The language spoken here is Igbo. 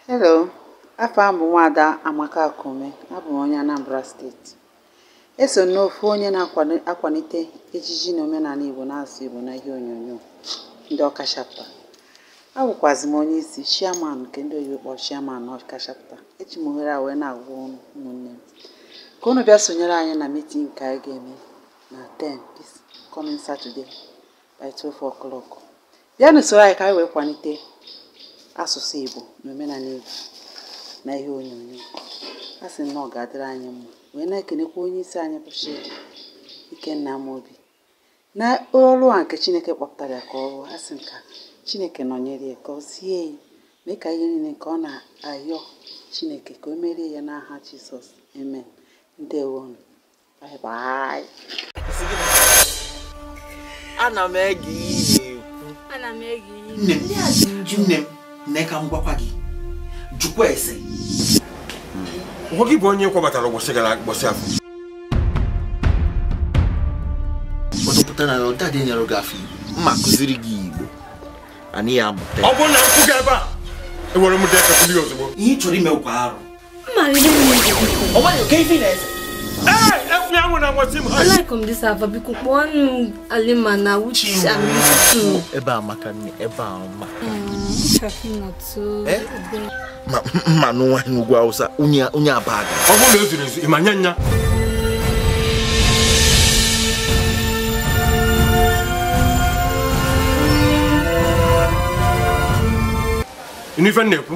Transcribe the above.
Hello, afa m bụ nwaada Amaka Akume, abụ m onye Anambra steeti. Eso m n'ofu onye na-akwanite ejiji na omenani Igbo na asụsụ Igbo na ihe onyonyo ndị Ọka Chapter. Abụkwazị m onye isi chairman nke ndị oyibo kpọrọ chairman n'Ọka Chapter. Eji m ohere a wee na-agwa ụmụnne m ka unu bịa sonyere anyị na meeting nke anyị ga-eme na 10 this coming Saturday. by 12 o'clock bịanụ soro anyị ka anyị wee kwanite asụsụ Igbo na omenani Igbo na ihe onyonyo a sị na ọ ga-adịrị anyị mma wee na-ekenekwa onye isi anyị bụ Chidi Ikenna Amobi na ọrụ a nke Chineke kpọpụtara ya ka ọ rụọ asị m ka Chineke nọnyere ya gọzie ya mee ka ihe niile nke ọ na-ayọ Chineke ka o meere ya n'aha Jizọs amen ndewo nụ ana m ege ihe nne m nne m nne ka m gwakwa gị jụkwa ese nwa gị bụ onye kwabatara ụbọchị gara ụbọchị afọ ọdụpụta na ụda dị nyere gị afọ igbo mma kụziri gị igbo anyị ya amụta ọ bụrụ na m kwụ gị ebe a enwere m dekakụli ozugbo ihe ị chọrọ ime ụkwa arụ Alaikum this Ava biko kpọọ nụ Alima na Uche Amitu. Ebe a maka nne ebe a mma. Ma nụ nwa n'ugwu Hausa onye abaga. Ọ bụrụ na o zuru ezu, ị ma nya nya. N'ife m na-ekwu